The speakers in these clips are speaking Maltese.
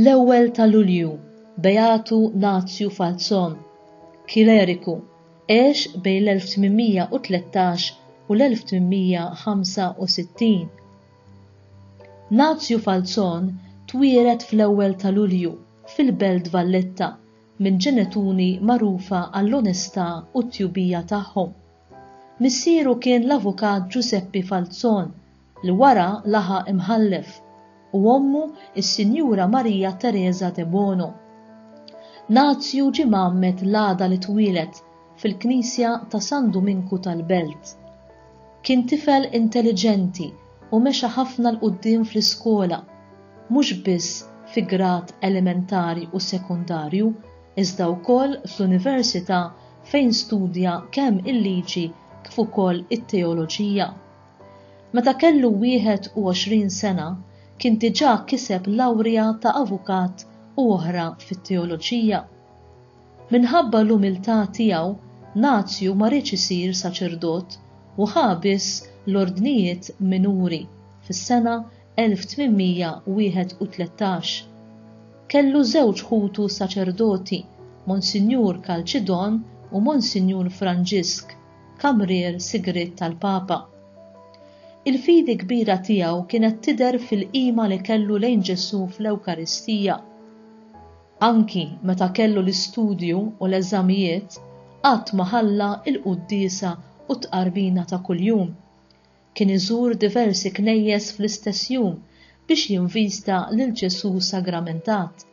L-ewwel ta' Lulju, Beatu Nazju Falzon, Kileriku, għex bejn l-1813 u l-1865. Nazju Falzon twieled fl-ewwel ta' Lulju fil-Belt Valletta minn ġenetuni magħrufa għall-onestà u t-tjubija tagħhom. Missieru kien l-Avukat Ġużeppi Falzon li wara laħaq imħallef u ommu s-Sinjura Marija Teresa Debono. Nazju ġie mgħammed l-għada li twieled fil-Knisja ta' San Duminku tal-Belt. Kien tifel intelliġenti, u mexa ħafna 'l quddiem fl-iskola, mhux biss fi grad elementari u sekondarju, iżda wkoll fl-università fejn studja kemm il-liġi kif ukoll it-teoloġija. Meta kellu 21 sena kien diġà kiseb lawrja ta' avukat u oħra fit-teoloġija. Minħabba l-umiltà tiegħu, Nazju ma riedx isir saċerdot u ħa biss l-ordnijiet minuri fis-sena 1831. Kellu żewġ ħutu saċerdoti, Monsinjur Calcidon u Monsinjur Franġisk, kamrier sigriet tal-Papa. Il-fidi kbira tiegħu kienet tidher fil-qima li kellu lejn Ġesù fl-Ewkaristija. Anki meta kellu l-istudju u l-eżamijiet, qatt ma ħalla l-quddiesa u t-tqarbina ta' kuljum. Kien iżur diversi knejjes fl-istess jum biex jinvista lil Ġesù sagramentat,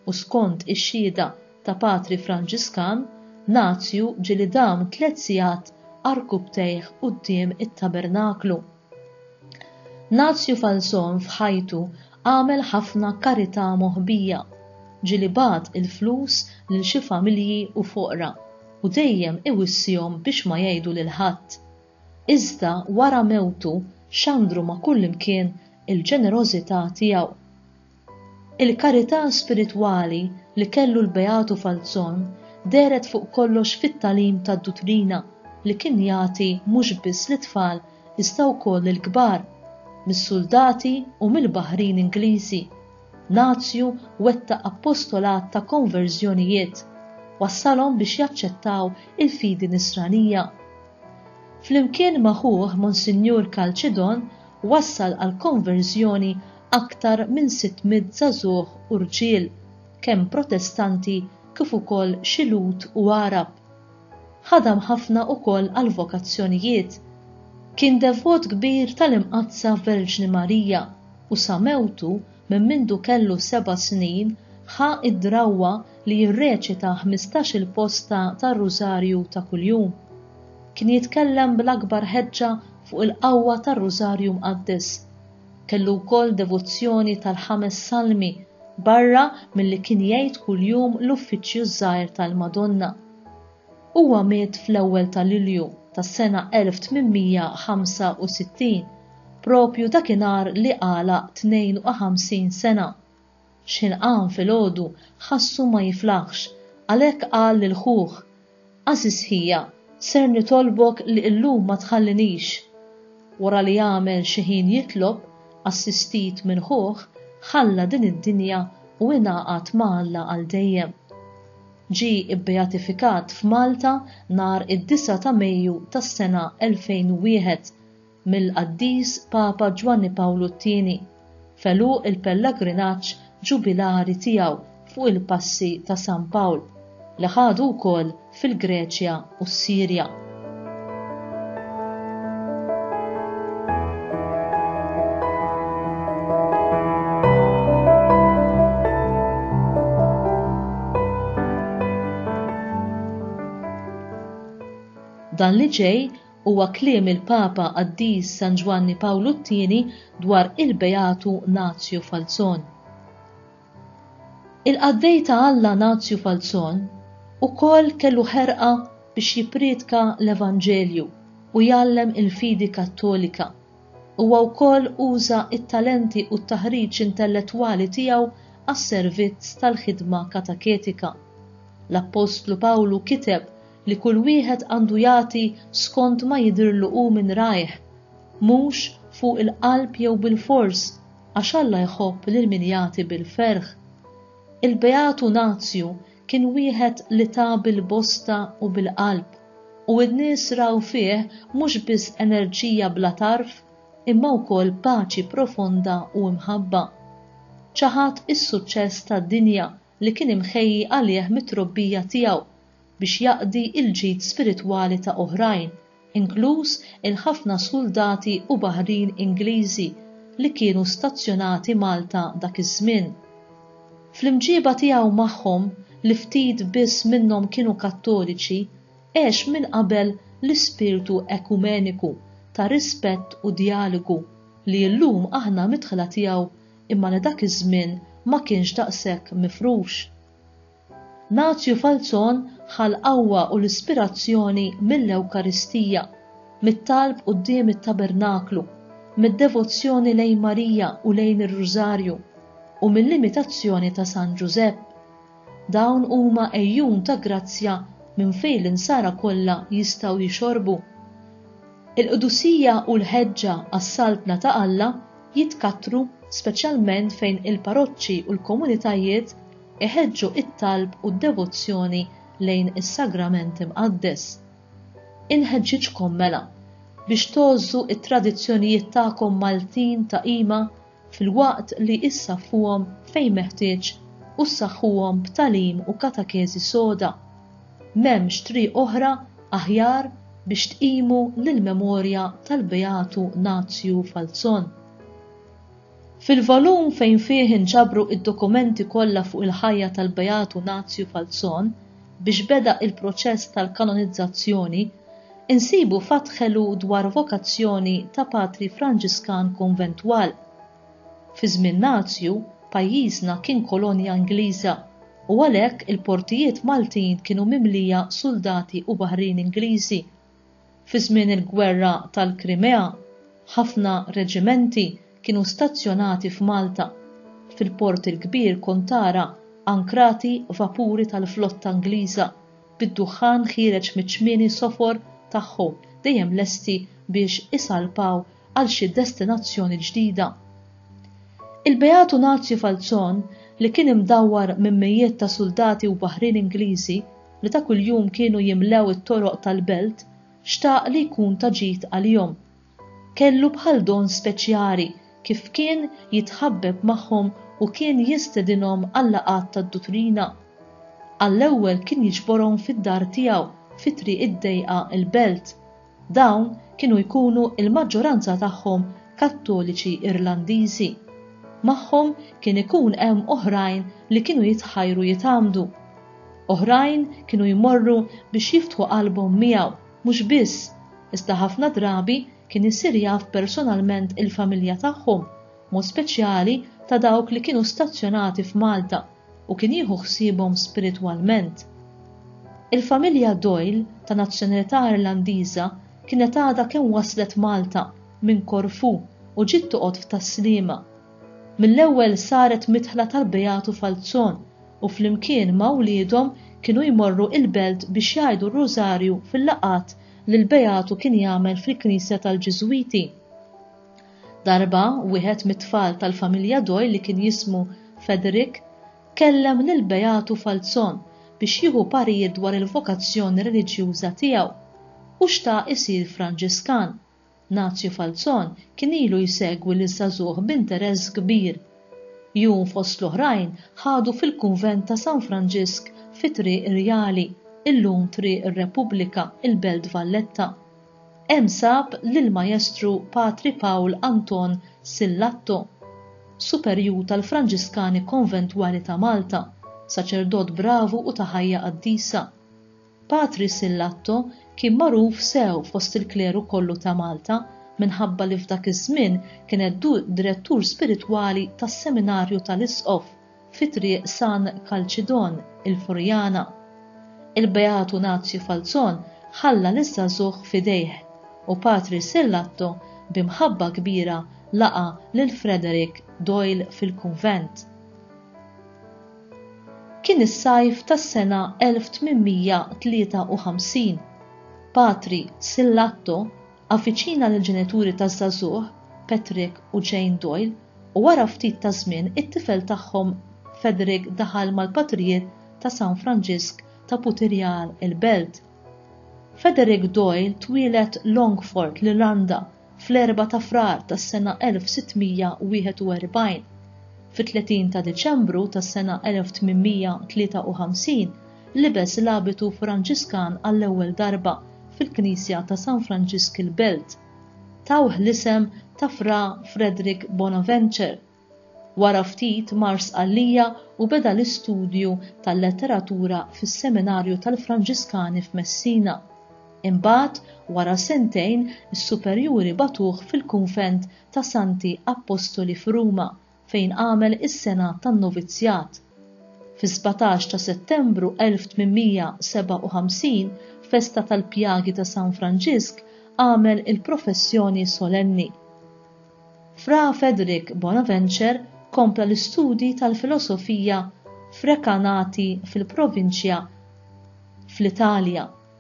u skont ix-xhieda ta' patri Franġiskan, Nazju ġieli dam tliet sigħat għarkupptejh quddiem it-tabernaklu. Nazju Falzon f'ħajtu għamel ħafna karità moħbija. Ġieli bagħat il-flus lil xi familji u foqra u dejjem iwissihom biex ma jgħidu lil ħadd. Iżda wara mewtu xandru ma' kullimkien il-ġenerożità tiegħu. Il-karità spiritwali li kellu l-Beatu Falzon dehret fuq kollox fit-tagħlim tad-duttrina li kien jagħti mhux biss lit-tfal iżda wkoll lill-kbar. Mis-suldati u mill-baħrin Ingliżi, Nazju wettaq appostolat ta' konverżjonijiet, wassalhom biex jaċċettaw il-fidi Nisranija. Flimkien ma' ħuh Monsinjur Calcidon wassal għall-konverżjoni aktar minn 600 żagħżugħ u rġiel, kemm Protestanti kif ukoll xi Lhud u Għarab. Ħadam ħafna ukoll għall-vokazzjonijiet. Kien devot kbir tal-Imqaddsa Verġni Marija u sa mewtu minn mindu kellu seba' snin ħa d-drawwa li jirreċita ħmistax-il posta tar-Rużarju ta' kuljum. Kien jitkellem bl-akbar ħeġġa fuq il-qawwa tar-Rużarju Mqaddes. Kellu wkoll devozzjoni tal-Ħames Salmi barra milli kien jgħid kuljum l-Uffiċċju ż-Żgħir tal-Madonna. Huwa miet fl-ewwel ta' Lulju tas-sena 1865, propju dakinhar li għalaq 52 sena. X'ħilqan filgħodu ħassu ma jiflaħx, għalhekk qal lil ħuh, Għażiż ħija, ser nitolbok li illum ma tħallinix. Wara li għamel xi ħin jitlob, assistit minn ħuh, ħalla din id-dinja u ingħaqad ma' Alla għal dejjem. Ġie ibbeatifikat f'Malta nhar id-disgħa ta' Mejju tas-sena 2001. mill-Qaddis Papa Ġwanni Pawlu t-Tieni f'għeluq il-pellagrinaġġ ġubilari tiegħu fuq il-Passi ta' San Pawl li ħadu wkoll fil-Greċja u s-Sirja. Dan li ġej Huwa kliem il-Papa Qaddis San Ġwanni Pawlu t-Tieni dwar il-Beatu Nazju Falzon. Il-qaddej ta' Alla Nazju Falzon ukoll kellu ħerqa biex jipprietka l-Evanġelju u jgħallem il-fidi Kattolika. Huwa wkoll uża t-talenti u t-taħriġ intellettwali tiegħu għas-servizz tal-ħidma kataketika. L-appostlu Pawlu kiteb li kull wieħed għandu jagħti skont ma jidhirlu hu minn rajh, mhux fuq il-qalb jew bilfors, għax Alla jħobb lil min jagħti bil-ferħ. Il-beatu Nazju kien wieħed li ta bil-bosta u bil-qalb, u n-nies raw fih mhux biss enerġija bla tarf, imma wkoll paċi profonda u mħabba. Ċaħad is-suċċess tad-dinja li kien imħejji għalih mit-trobbija tiegħu biex jaqdi l-ġid spiritwali ta' oħrajn, inkluż il-ħafna suldati u baħrin Ingliżi li kienu stazzjonati Malta dak iż-żmien. Fl-imġieba tiegħu magħhom, li ftit biss minnhom kienu Kattoliċi, għex minn qabel l-ispirtu ekumeniku ta' rispett u djalogu li llum aħna midħla tiegħu imma li dak iż-żmien ma kienx daqshekk mifrux. Nazju Falzon ħa l-qawwa u l-ispirazzjoni mill-Ewkaristija, mit-talb quddiem it-tabernaklu, mid-devozzjoni lejn Marija u lejn ir-Rużarju, u mill-imitazzjoni ta' San Ġużepp. Dawn huma għejjun ta' grazzja minn fejn l-insara kollha jistgħu jixorbu. Il-qdusija u l-ħeġġa għas-Saltna ta' Alla jitkattru speċjalment fejn il-parroċċi u l-komunitajiet iħeġġu t-talb u d-devozzjoni lejn is-Sagrament Imqaddes. Inħeġġiġkom, mela, biex tgħożżu t-tradizzjonijiet tagħkom Maltin ta' qima filwaqt li issaffuhom fejn meħtieġ u ssaħħuhom b'tagħlim u katakeżi soda. M'hemmx triq oħra aħjar biex tqimu l-memorja tal-Beatu Nazju Falzon. Fil-volum fejn fih inġabru id-dokumenti kollha fuq il-ħajja tal-Beatu Nazju Falzon biex beda il-proċess tal-kanonizzazzjoni, insibu fatħelu dwar vokazzjoni ta' Patri Franġiskan Konventwal. Fi żmien Nazju, pajjiżna kien kolonja Ingliża u għalhekk il-portijiet Maltin kienu mimlija suldati u baħrin Ingliżi. Fi żmien il-Gwerra tal-Krimea, ħafna reġimenti kienu stazzjonati f'Malta. Fil-port il-kbir kont tara ankrati vapuri tal-flotta Ingliża, bid-duħħan ħiereġ miċ-ċmieni sofor tagħhom dejjem lesti biex isalpaw għal xi destinazzjoni ġdida. Il-Beat Unazju Falzon li kien imdawwar minn mijiet ta' suldati u baħrin Ingliżi li ta' kuljum kienu jimlew it-toroq tal-belt xtaq li jkun ta' ġid għalihom. Kellu bħal don speċjali kif kien jitħabbeb magħhom u kien jistedinhom għal-laqgħat tad-duttrina. Għall-ewwel kien jiġborhom fid-dar tiegħu fi Triq id-Dejqa il-Belt. Dawn kienu jkunu l-maġġoranza tagħhom Kattoliċi Irlandiżi. Magħhom kien ikun hemm oħrajn li kienu jitħajru jitgħammdu. Oħrajn kienu jmorru biex jiftħu qalbhom miegħu, mhux biss, iżda ħafna drabi kien isir jaf personalment il-familja tagħhom, b'mod speċjali ta' dawk li kienu stazzjonati f'Malta. u kien jieħu ħsiebhom spiritwalment. Il-familja Doyle ta' nazzjonalità Irlandiża kienet għadha kemm waslet Malta minn Korfu u ġiet toqgħod f'Tas-Sliema. Mill-ewwel saret midħla tal-Beatu Falzon u flimkien ma' wliedhom kienu jmorru il-belt biex jgħidu r-Rużarju fil-laqgħat li l-Beatu kien jagħmel fil-knisja tal-Ġiżwiti. Darba, wieħed mit-tfal tal-familja Doyle li kien jismu Federick kellem lill-Beatu Falzon biex jieħu parir dwar il-vokazzjoni reliġjuża tiegħu. Hu xtaq isir Franġiskan. Nazju Falzon kien ilu jsegwi liż-żagħżugħ b'interess kbir. Jun fost l-oħrajn ħadu fil-kunvent ta' San Franġisk fi Triq Rjali, illum Triq ir-Repubblika, il-Belt Valletta. Hemm sab lill-Majestru Patri Pawl Anton Sillatto, Superjur tal-Franġiskani Konventwali ta' Malta, saċerdot bravu u ta' ħajja qaddisa. Patri Sillatto kien magħruf sew fost il-kleru kollu ta' Malta minħabba li f'dak iż-żmien kien ed-Direttur Spiritwali tas-Seminarju tal-Isqof fi Triq San Kalċidon, il-Furjana. Il-Beat Unazju Falzon ħalla liż-żagħżugħ f'idejh, u Patri Sillatto bi mħabba kbira laqa' lil Frederick Doyle fil-kunvent. Kien is-sajf tas-sena 1853. Patri Sillatto Avviċina lill-ġenituri taż-żagħżugħ, Patrick u Jane Doyle, u wara ftit ta' żmien it-tifel tagħhom Federick daħal mal-patrijiet ta' San Franġisk ta' Putirjal il-Belt. Federick Doyle twieled Longfort, l-Irlanda, fl-4 ta' Frar tas-sena 1641. Fit-30 ta' Diċembru tas-sena 1853 Libes l-abitu Franġiskan għall-ewwel darba fil-Knisja ta' San Franġisk il-Belt. Tawh l-isem ta' Fra Frederick Bonaventure. Wara ftit mar Sqallija u beda l-istudju tal-letteratura fis-Seminarju tal-Franġiskani f'Messina. Imbagħad, wara sentejn, is-superjuri bagħtuh fil-kunvent ta' Santi Appostoli f'Ruma fejn għamel is-sena tan-novizzjat. Fis-sbatax ta' Settembru 1857, festa tal-pjagi ta' San Franġisk, għamel il-professjoni solenni. Fra Federick Bonaventure kompla l-istudji tal-filosofija f'Recanati fil-provinċja fl-Italja.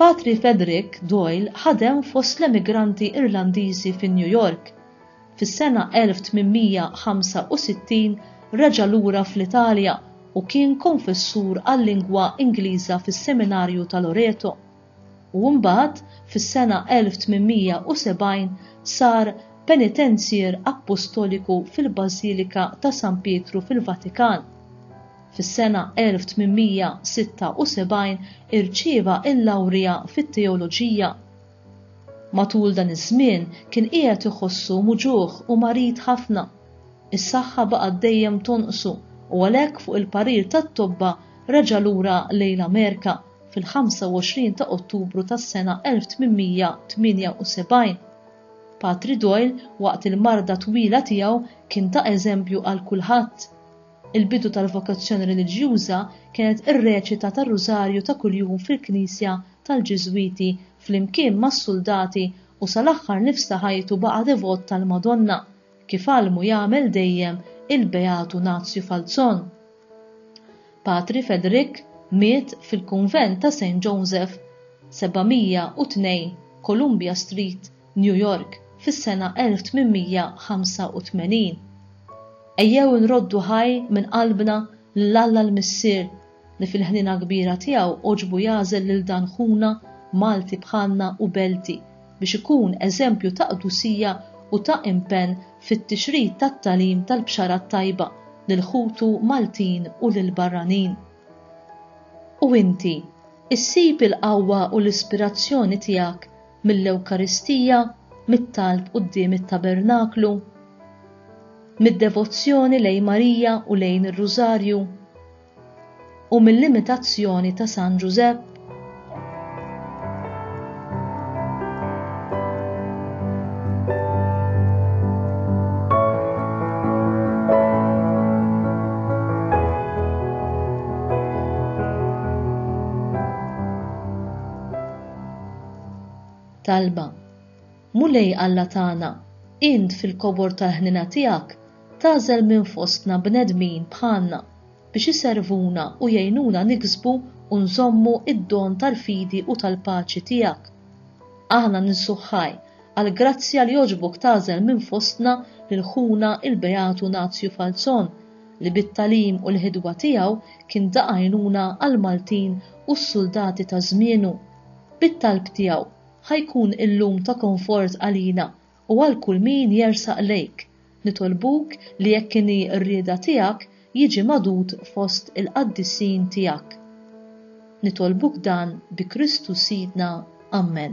Patri Frederick Doyle ħadem fost l-emigranti Irlandiżi fi New York. Fis-sena 1865 reġa' lura fl-Italja u kien konfessur għal-lingwa Ingliża fis-Seminarju ta' Loreto, u mbagħad fis-sena 1870 sar Penitenzier Appostoliku fil-Bażilika ta' San Pietru fil-Vatikan. Fis-sena 1876 irċieva l-lawrja fit-teoloġija. Matul dan iż-żmien kien qiegħed iħossu muġugħ u marid ħafna. Is-saħħa baqgħet dejjem tonqsu u għalhekk fuq il-parir tat-tobba reġa' lura lejn l-Amerika fil-25 ta' Ottubru tas-sena 1878. Patri Doyle waqt il-marda twila tiegħu kien ta' eżempju għal kulħadd. Il-bidu tal-vokazzjoni reliġjuża kienet ir-reċita tar-Rużarju ta' kuljum fil-knisja tal-Ġiżwiti flimkien mas-suldati u sal-aħħar nifs ta' ħajtu baqa' devot tal-Madonna, kif għallmu u jagħmel dejjem il-Beatu Nazju Falzon. Patri Fedrick miet fil-kunvent ta' Saint Joseph, 702 Columbia Street, New York, fis-sena 1885. Ejjew inroddu ħaj minn qalbna lil Alla l-Missier li fil-ħniena kbira tiegħu għoġbu jagħżel lil dan ħuna Malti bħalna u Belti biex ikun eżempju ta' qdusija u ta' impenn fit-tixrid tat-tagħlim tal-Bxara t-Tajba lil ħutu Maltin u lill-barranin. U inti, issib il-qawwa u l-ispirazzjoni tiegħek mill-Ewkaristija, mit-talb quddiem it-tabernaklu, mid-devozzjoni lejn Marija u lejn ir-Rużarju, u mill-imitazzjoni ta' San Ġużepp. Talba. Mulej Alla tagħna, int fil-kobor tal-ħniena tiegħek tagħżel minn fostna bnedmin bħalna biex iservuna u jgħinuna niksbu u nżommu d-don tal-fidi u tal-paċi tiegħek. Aħna ninsu ħaj għall-grazzja li għoġbok tagħżel minn fostna lil ħuna il-Beat Unazju Falzon, li bit-tagħlim u l-ħidwa tiegħu kien ta' għajnuna għall-Maltin u s-suldati ta' żmienu. Bit-talb tiegħu, ħa jkun illum ta' konfort għalina u għal kull min jersaq lejk. Nitolbuk li jekk inhi r-rieda tiegħek jiġi magħdud fost il-qaddisin tiegħek. Nitolbuk dan bi Kristu Sidna. Ammen.